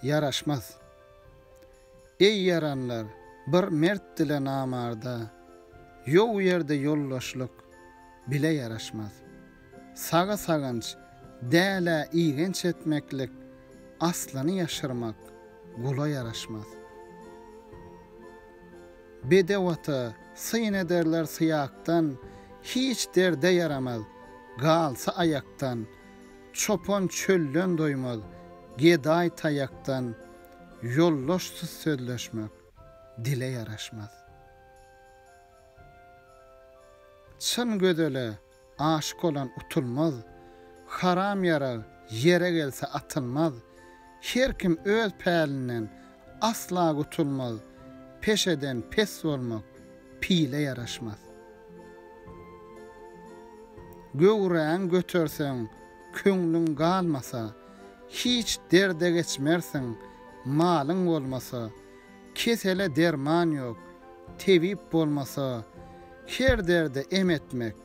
Ýaraşmaz. Eý ýaranlar, bir mertdile namarda, Ýow ýerde ýoldaşlyk bile ýaraşmaz. Saga saganç, dälä igenç etmeklik, Aslyny ýaşyrmak gula ýaraşmaz. Bedew ata, syn ederler syýakdan, Hiç derde ýaramaz, galsa aýakdan. Çopan çölden doýmaz, gedaý taýakdan, Ýoldaşsyz sözleşmek dile ýaraşmaz. Çyn gözele, Aşyk olan utulmaz, Haram ýarag ýere gelse atylmaz, Her kim öz pälinden asla gutulmaz, Peşeden pes bolmak pile ýaraşmaz. Göwräň göterseň, köňlüň galmasa, Hiç derde geçmersiň, malyň bolmasa, Kesele derman ýok, tebip bolmasa, Her derde em etmek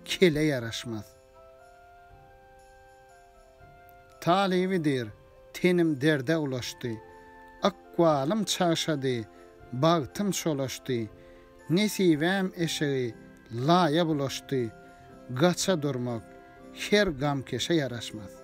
kele ýaraşmaz. Talyby dyr, tenim derde ulaşdy, Ykbalym çagşady, bagtym çolaşdy, Nesibäm eşegi laýa bulaşdy, Gaça durmak her gamkeşe ýaraşmaz.